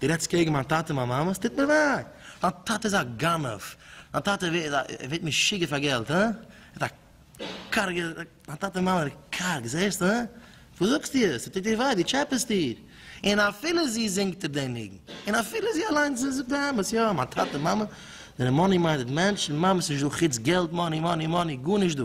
דו רעדסט קעגן מיין טאטע און מיין מאמע? ס'טוט מיר וויי! דיין טאטע איז א גנב! דיין טאטע ווערט משוגע פאר געלט, הא? ער האט א קארגע, דיין טאטע און מאמע זענען קארג, זעהסט, הא? וואס זאגסטו עס? ס'טוט דיר וויי? דו טשעפעסט דיר! און אפילו זי זינגט אפ דעם ניגון, און אפילו זי אליינס זי זאגט די אמת, יא, מיין טאטע און מאמע זענען מאני מיינדעד מענטשן, מיין מאמע ס'נישט דא חוץ געלט, מאני, מאני, מאני, גארנישט דא!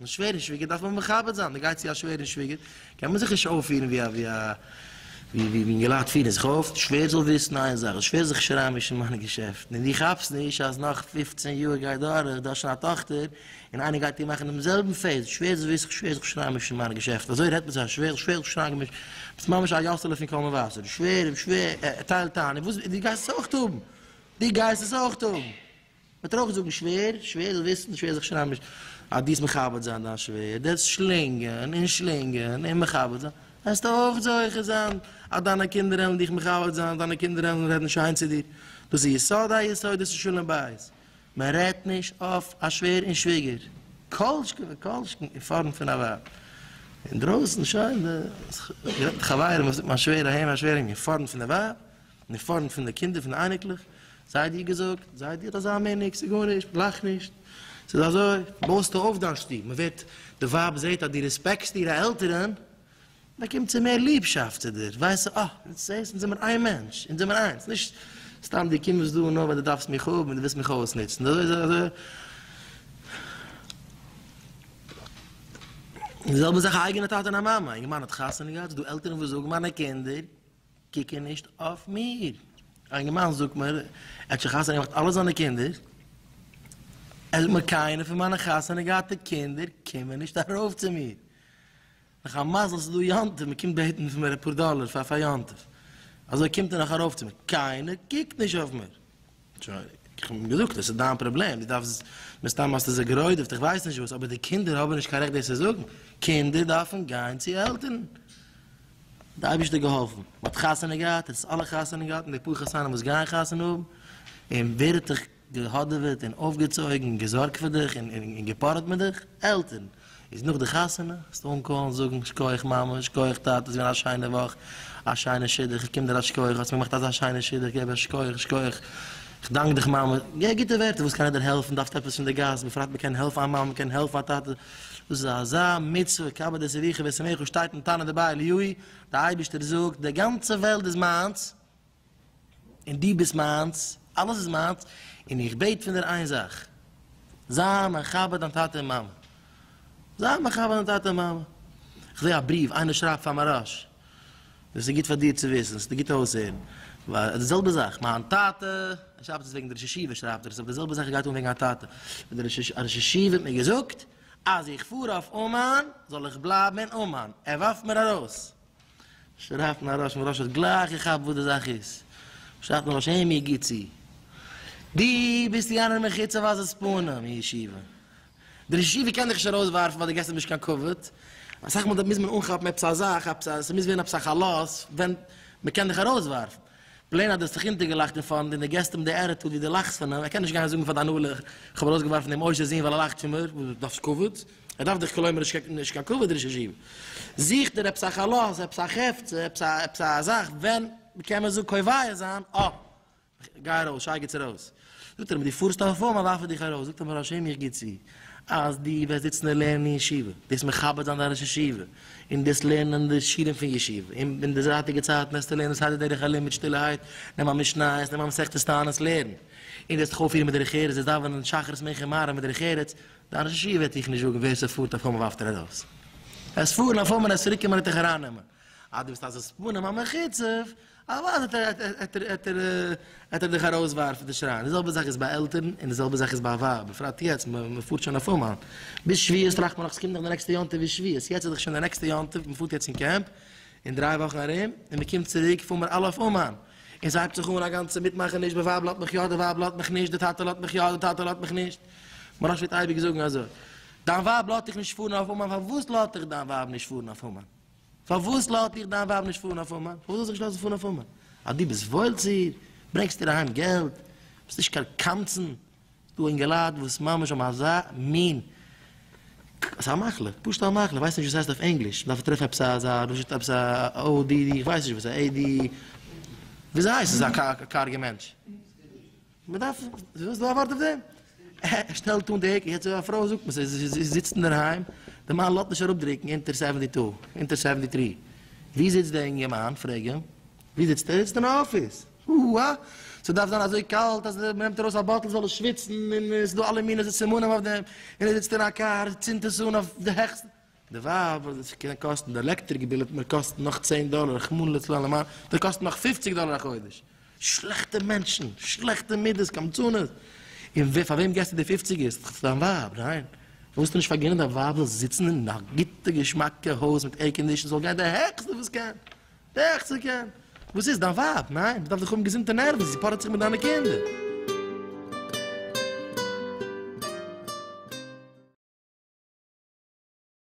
און שווערע שוויגער דארף מען מכבד זיין, מען גייט צו א שווערע שוויגער קען מען זיך נישט אויפפירן ווי א ווי א ווי ווי אינגעלייט פירן זיך אויף, די שווער זאל וויסן איין זאך, די שווער זאל זיך נישט אריינמישן אין מיינע געשעפטן, און דו כאפסט נישט אז נאך פֿופֿצן יאר גייט דורך, דו האסט שוין א טאכטער, און איינער גייט איר מאכן דעם זעלבן פעיס, די שווער זאל וויסן, די שווער זאל זיך נישט אריינמישן אין מיינע געשעפטן, אזוי רעדט מען צו א שווער, די שווער זאל זיך נישט אריינגעמישט, דו ביסט ממש א יאסעלע פון קול מבשר, די שווער, די שווער, ער טיילט איין, און וואס, דו גייסט עס אויך האבן, דו גייסט עס אויך האבן. מען טאר אויך זאגן שווער, שווער זאל וויסן, שווער זיך שרייבן נישט אז דו זאלסט מכבד זיין דיין שווער, דו וועסט שלינגען און שלינגען און מכבד זיין, וועסטו אויך זוכה זיין אז דיינע קינדער וועלן דיך מכבד זיין, דיינע קינדער וועלן רעדן שיין צו דיר, דאס איז יסוד היסודות אין שלום בית, מען רעדט נישט אויף א שווער און שוויגער, כל שכן וכל שכן אין פארנט פון א ווייב, אינדרויסן שוין, איך רעד מיט חברים, איך זאג מיין שווער אהין מיין שווער אהין, אין פארנט פון די ווייב, אין פארנט פון די קינדער פון די אייניקלעך, זיי דיר געזאגט, זיי דיר אזא מין ניקס, איז גארנישט, לאך נישט, ס'איז אזוי, בויסטו אויף דיין שטוב, מען ווערט, די ווייב זעט אז דו רעספעקסט אירע עלטערען, באקומט זי מער ליבשאפט צו דיר, ווייסט זי, אה, יעצט זעסט, אונז זעמער איין מענטש, אונז זעמער איינס, נישט סתם דו קומסט דא נאר ווייל דו דארפסט מיך האבן און דו ווילסט מיך אויסנוצן, אזוי איז אזוי, די זעלבע זאך א אייגענע טאטע און א מאמע, אינגערמאן האט חתונה געהאט, ס'איז דא עלטערען וואס זאגן, מיינע קינדער, קוקן נישט אויף מיר. א אינגערמאן זאגט מיר, ער האט שוין חתונה געמאכט אלע זיינע קינדער, ער זאגט מיר קיינער פון מיינע חתונה געהאטע קינדער קומען נישט ארויף צו מיר, נאך א מזל ס'איז דא יום טוב, מ'קומט בעטן פון מיר אפאר דאלער פאר יום טוב, אזוי קומט ער נאך ארויף צו מיר, קיינער קוקט נישט אויף מיר, שוין, איך האב אים געזאגט, דאס איז דיין פראבלעם, דו דארפסט, מסתם האסטו זיי גערוידעוועט, איך ווייס נישט וואס, אבער די קינדער האבן נישט קיין רעכט דאס צו זאגן, קינדער דארפן גיין צו עלטערן. די אייבערשטער האט געהאלפן, מען האט חתונה געהאט, עס איז אלע חתונה געהאט, און די פאר חתנים וואס גייען חתונה האבן, און ווער האט דיך געהאדעוועט און אויפגעצויגן און געזארגט פאר דיך און געפארעט מיט דיך? עלטערן. איז נאך די חתונה, זאלסט אנקאלן זאגן, שכוח מאמע, שכוח טאטע, ס'איז געווען א שיינע וואך, א שיינע שידוך, איך קום דיר א שכוח, האסט מיר געמאכט אזא שיינע שידוך, געב א שכוח, שכוח, כ'דאנק דיך מאמע, גיי גוטע ווערטער, וואס קען איך דיר העלפן, דארפסט עפעס פון די גאס, בפרט מ'קען העלפן א מאמע, מ'קען העלפן א טאטע, דאס איז אזא מצוה, כבד את אביך ואת אמך, וואס שטייט אין תנא דבי אליהו, די אייבערשטער זאגט, די גאנצע וועלט איז מיינס, און דו ביסט מיינס, אלעס איז מיינס, און איך בעט פון דיר איין זאך, זיי מכבד דיין טאטע און מאמע, זיי מכבד דיין טאטע און מאמע, איך זע א בריוו, איינער שרייבט פאר מוהראש, דאס איז גוט פאר דיר צו וויסן, ס'טוט גוט אויסהערן, ווייל די זעלבע זאך, מיין טאטע, ער שרייבט עס וועגן די ראש ישיבה שרייבט ער עס, אבער די זעלבע זאך גייט אן וועגן א טאטע, א ראש ישיבה האט מיר געזאגט אז איך פאר אויף אומאן זאל איך בלייבן אין אומאן, ער ווארפט מיר ארויס. שרייבט מיין ראש, מיין ראש האט גלייך געכאפט וואס די זאך איז, שרייבט מיין ראש, עמי גיב צו, דו ביסט יא נאר מחוץ אויף עזות פנים אין ישיבה, דער ישיבה קען דיך נישט ארויסווארפן ווייל דו געבסט אים נישט קיין כבוד, אסאך מאל מוז מען אנכאפן עפעס א זאך, עפעס א, ס'מוז ווערן עפעס א חלות ווען מ'קען דיך ארויסווארפן. פלעין אז דו האסט זיך אונטערגעלאכט אין פארנט און דו געסט אים די עטיטוד ווי דו לאכסט פון אים, ער קען נישט גיין זאגן פאר די הנהלה איך האב ארויסגעווארפן דעם עושר זון ווייל ער לאכט פון מיר, וואס דו דארפסט כבוד? ער דארף דיך כלומר'שט קעגן נישט קיין כבוד רעזשים. זוכט ער עפעס א חלות, עפעס א חפץ, עפעס א עפעס א זאך ווען מ'קען מיר זאג קובע זיין, אה! גיי ארויס, שייגעץ ארויס. זאגט ער אים די פארסט אויף פארם ווארף איך דיך ארויס, זאגט אים דער השי ת מיך גיט צו אז די וועסט זיצן און לערנען אין ישיבה, דאס מכבד זיין די ראש ישיבה, און דאס לערנען די שירים פון ישיבה, און אין די זייטיגע צייטן וועסטו לערנען סדר דרך הלימוד מיט שטילערהייט, נעם א משניות, נעם א מסכת תענית לערן, און וועסט דיך אויפירן מיט דרך ארץ, וועסט דאווענען שחרית מנחה און מעריב מיט דרך ארץ, דיין ראש ישיבה וועט דיך נישט זאגן ווער ס'פארט אויף פארם ווארפט ער ארויס. ער וועסט פארן אויף פארם און ער וועסט צוריקקומען און דיך ארייננעמען. אז דו ביסט א זיס פנים א מחוצף, אוודאי העט ער דיך ארויס ווארפן די שרייען, די זעלבע זאך איז ביי עלטערן און די זעלבע זאך איז ביי א ווייב, בפרט יעצט מען פארט שוין אויף אומאן, ביז שביעות טראכט מען נאך ס'קומט נאך די נעקסטע יום טוב איז שביעות, יעצט איז דאך שוין די נעקסטע יום טוב, מען פארט יעצט אין קעמפ, אין דריי וואכן ארום, און מען קומט צוריק פארן מיר אלע אויף אומאן, און ס'הייבט זיך אן א גאנצע מיטמאכעניש די ווייב לאזט מיך יא די ווייב לאזט מיך נישט די טאטע לאזט מיך יא די טאטע לאזט מיך נישט, מוהראש וועט אייביג זאגן אזוי, דיין ווייב לאזט דיך נישט פארן אויף אומאן פארוואס לאזט דיך דיין ווייב נישט פארן אויף אומאן? פארוואס לאזט דיך דיין ווייב נישט פארן אויף אומאן? פארוואס זאל זי נישט לאזן פארן אויף אומאן? אז דו ביסט וואויל צו איר, ברענגסט איר אהיים געלט, ביסט נישט קיין קמצן, ס'דא אינגעלייט וואס ממש האבן אזא מין, ס'א מחלה, פשוט א מחלה, כ'ווייס נישט ווי ס'הייסט אויף ענגליש, מ'דארף טרעפן עפעס אזא פשוט עפעס א או די די, כ'ווייס נישט וואס א עי די, וויאזוי הייסט עס א קארגע מענטש? מען דארף, וויאזוי איז דא א ווארט אויף דעם? ער שטעלט אן די העק, יעצט אויב א פרוי זאגט מען זיי זי זיצט אינדערהיים, די מאן לאזט נישט אראפדרוקן אונטער סעווענטי טו, אונטער סעווענטי טרי, ווי זיצט דער אינגערמאן? פרעג אים, ווי זיצט ער? ער זיצט אין א אפיס, הו הא, ס'דארף זיין אזוי קאלט אז מען נעמט ארויס א באטל זאל ער שוויצן, און ס'דא אלע מיני סימנים אויף דעם, און ער זיצט אין א קאר, צינדט עס אן אויף די העכסטע, די ווייב וואס וועט קענען קאסטן די עלעקטריק ביל וועט מיר קאסטן נאך צען דאלער רחמנא לצלן למען וועט קאסטן נאך פופציג דאלער א חודש. שלעכטע מענטשן, שלעכטע מידות, קמצנות. און ווער פאר וועם געסטו די פופציגער? ס'איז דאך צו דיין ווייב, ניין? ווילסטו נישט פארגינען דיין ווייב זאל זיצן אין א גוטע געשמאקע הויז מיט עירקאנדישן זאל גיין די העכסטע וואס קען, די העכסטע קען. וואס איז? דיין ווייב, ניין? מ'דארף דאך האבן געזונטע נערוון, זי פארעט זיך מיט דיינע קינדער.